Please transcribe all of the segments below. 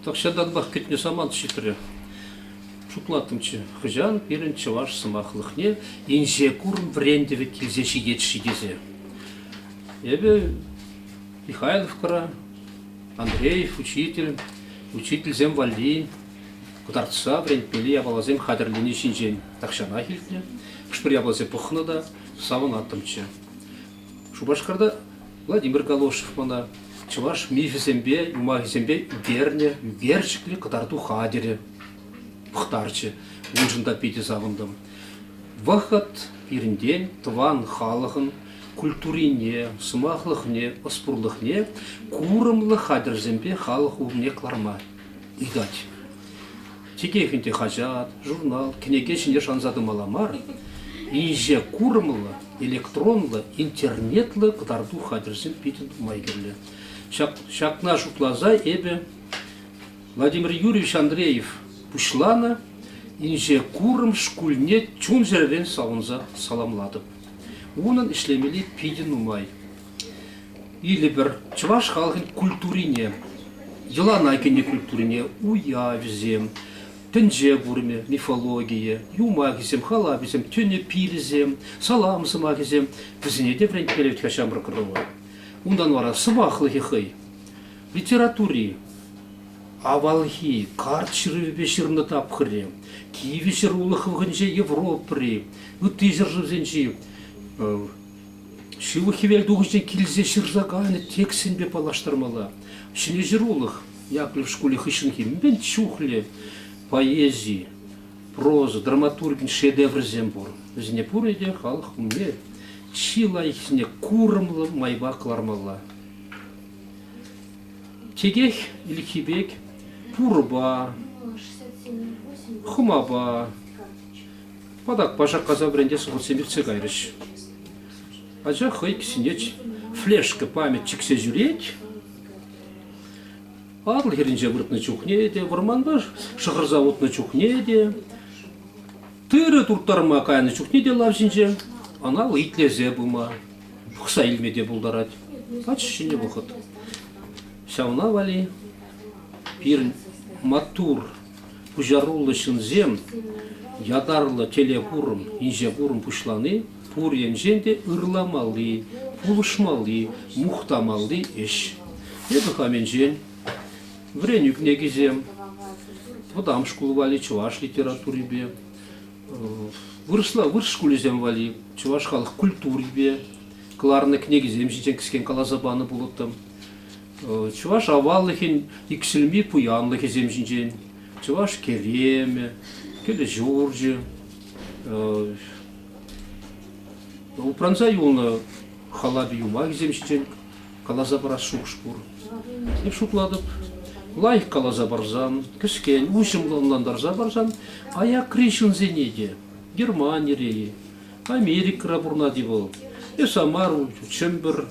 Тахҫантанпах кӗтнӗ самант ҫитрӗ. Шутлаттӑмччӗ, хӑҫан пирӗн чӑваш сӑмахлӑхне инҫе курӑм вӗрентӗвӗ килсе ҫитет-ши тесе. Эпӗ Михайловкӑра, Андреев учитель, учительсем валли кӑтартса вӗрентмелли япаласем хатӗрлени ҫинчен тахҫанах илтнӗ. Хӑш-пӗр япаласем пӑхнӑ та савӑнаттӑмччӗ. Шупашкарта Владимир Галошев мана чӑваш мифӗсемпе, юмахӗсемпе вернӗ верчиклӗ кӑтарту хатӗрӗ пӑхтарчӗ. Уншӑн та питӗ савӑнтӑм. Вӑхӑт пирӗнтен тӑван халӑхӑн культурине, сӑмахлӑхне, ӑспурлӑхне курӑмлӑ хатӗрсемпе халӑх умне кӑларма ыйтать. Чекех ӗнтӗ хаҫат, журнал, кӗнеке ҫине шанса тӑмалла мар, инҫе курӑмлӑ, электронлӑ, интернетлӑ кӑтарту хатӗрсем питӗ нумай кирлӗ. Ҫак, ҫакна шутласа эпӗ Владимир Юрьевич Андреев пуҫланӑ инҫе курӑм шкулне чун-чӗререн савӑнса саламлатӑп. Унӑн ӗҫлемелли питӗ нумай. Илӗпӗр чӑваш халӑхӗн культурине, йӑлана кӗнӗ культурине, уявӗсем, тӗнче курӑмӗ, мифологийӗ, юмахӗсем, халапӗсем, тӗнӗ пилӗсем, салам сӑмахӗсем вӗсене те вӗрентмелле ҫамрӑк ӑрӑва. Унтан вара сӑваплӑхӗ хӑй. Литератури авалхи карт ҫырӑвӗпе ҫырнӑ тапхӑрӗ, кивӗ ҫӗр улӑх хӑвӑхӗнче Европӑри, ытти ҫӗршывсенчи Ҫывӑх хӗвелтухӑҫа килсе ҫырса кайнӑ текстсемпе паллаштармалла. Ҫӗнӗ ҫырулӑх Яковлев шкулӗ хыҫҫӑнхи мӗн чухлӗ поэзи, проза, драматургин шедеврӗсем пур. Вӗсене пурне те халӑх умне чи лайӑххисене курӑмлӑ майпа кӑлармалла. Текех Ильхи пек пурпа, хӑмапа, Патакпа шаккаса вӗрентес хутсем иртсе кайрӗҫ. Ача хӑй кӗсйинчеч флешка память чиксе ҫӳрет. Атӑл хӗрринче выртнӑ чухне те, вӑрманта шӑхӑрса утнӑ чухне те, тырӑ турттарма кайнӑ чухне те лав ҫинче ӑна итлесе пыма, пӑхса илме те пултарать. Ач ҫӗнӗ вӑхӑт. Ҫавна вали пирӗн маттур Пуҫаруллӑ ҫынсем ятарлӑ телекурӑм, инҫекурӑм пуҫлани пур енчен те ырламалли, пулӑшмалли, мухтамалли ӗҫ. Эпӗ хамӗнчен вӗренӳ кӗнекисем, вӑтам шкул валли чӑваш литературипе, вырӑсла вырӑс шкулӗсем валли чӑваш халӑх культурипе кӑларнӑ кӗнекисем ҫинчен кӗскен каласа панӑ пулӑттӑм. Чӑваш аваллӑхӗн иксӗлми пуянлӑхӗсем ҫинчен Чӑваш керемӗ, кӗлӗ ҫурчӗ, упранса юлнӑ халапи юмахӗсем ҫинчен каласа парас шухӑш пур. Эп шутлатӑп, лайӑх каласа парсан, кӗскен, уҫӑмлӑ ӑнлантарса парсан, аякри ҫынсене те, Германире-и, Америкӑра пурӑнать-и вӑл, эсӗ мар, Чӗмпӗр,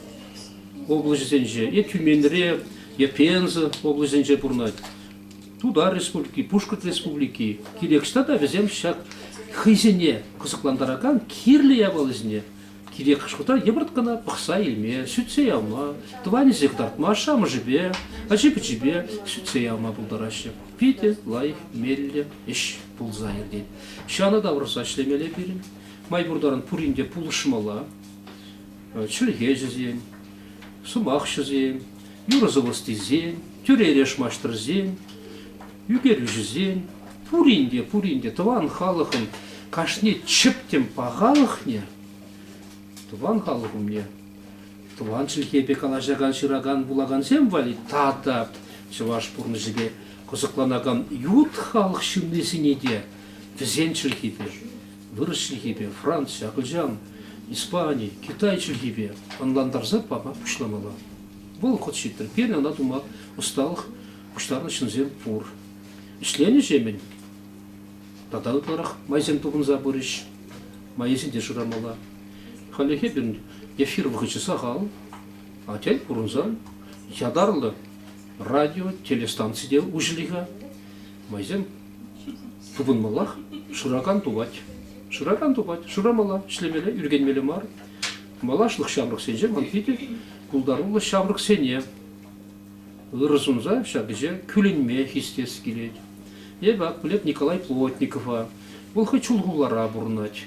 облаҫӗсенче, е Тюменьре, е Пенза облаҫӗнче пурӑнать. Тутар Республики, Пушкӑрт Республики, кирек ӑҫта та вӗсем ҫак хӑйсене кӑсӑклантаракан кирлӗ япаласене кирек хӑшкӑлта йӑпӑрт кӑна пӑхса илме, сӳтсе явма, тӑванӗсене кӑтартма, ашшӗ-амӑшӗпе, ачи-пӑчипе сӳтсе явма пултараҫҫӗ. Питӗ лайӑх меллӗ ӗҫ пулса иртет. Ҫанӑ тавӑрса ӗҫлемелле пирӗн. Май пур таран пурин те пулӑшмалла. чӗлхеҫӗсен, сӑмахҫӑсен, юрӑ-сӑвӑ стильсен, тӳре-эреш маҫтӑрсен, ӳкерӳҫӗсен, пурин те, пурин те тӑван халӑхӑн кашни чӗптӗм пахалӑхне, тӑван халӑх умне тӑван чӗлхепе калаҫакан, ҫыракан, вулакансем валли тата чӑваш пурнӑҫӗпе кӑсӑкланакан ют халӑх ҫыннисене те вӗсен чӗлхипе вырӑс чӗлхипе, Франци, акӑлчан, Испани, Китай чӗлхипе ӑнлантарса пама пуҫламалла. Вӑл хӑт ҫитрӗ. Пирӗн ӑна тума ӑсталӑх пуҫтарнӑ ҫынсем пур. Ӗҫленӗҫемӗн тата ытларах майсем тупӑнса пырӗҫ. Майӗсене шырамалла. Халлӗхе пирӗн эфир вӑхӑчӗ сахал, атя курӑнсан ятарлӑ радио, телестанци те уҫӑлӗ-ха. Майсем Тупӑнмаллах шыракан тупать. Шыракан тупать. Шырамалла, ӗҫлемелле, ӳркенмелле мар. Малашлӑх ҫамрӑксенче ман питӗ пултаруллӑ ҫамрӑксене ырӑ сунса ҫак ӗҫе кӳлӗнме хистес килет. Эпӗ ак пӗлеп Николай Плотникова. Вӑл хӑй Чулхулара пурӑнать.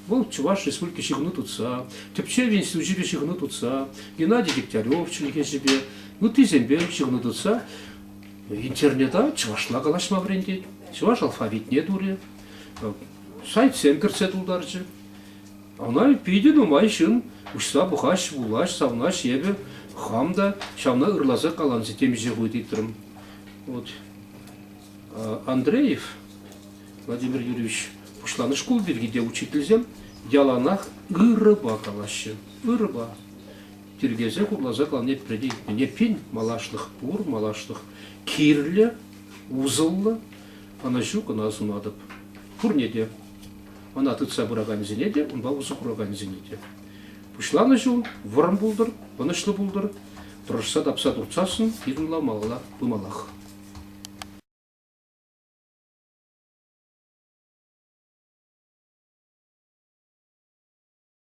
Вӑл Чӑваш Республики ҫыхӑну тытса, тӗпчев институчӗпе ҫыхӑну тытса, Геннадий Дегтярев чӗлхеҫӗпе, ыттисемпе ҫыхӑну тытса Интернета чӑвашла калаҫма вӗрентет, чӑваш алфавитне турӗ, сайтсем кӗртсе тултарчӗ. Ӑна питӗ нумай ҫын уҫса пухаҫ, вулаҫ, савнаҫ. Эпӗ хам та ҫавна ырласа каланси темиҫе хут ыйтрӑм. Вот Андреев Владимир Юрьевич пуҫланӑ шкул пирки те учительсем яланах ырӑпа калаҫҫӗ. Ырӑпа. тиркесе хурласа кӑларни пирӗн пин малашлӑх пур, малашлӑх кирлӗ, усӑллӑ, ӑнӑҫу кӑна сунатӑп. Пурне те, ӑна тытса пыракансене те, унпа усӑ куракансене те. Пуҫланӑ ҫул вӑрӑм пултӑр, ӑнӑҫлӑ пултӑр, тӑрӑшса тапса туртсассӑн йӑтӑнламалла пымаллах.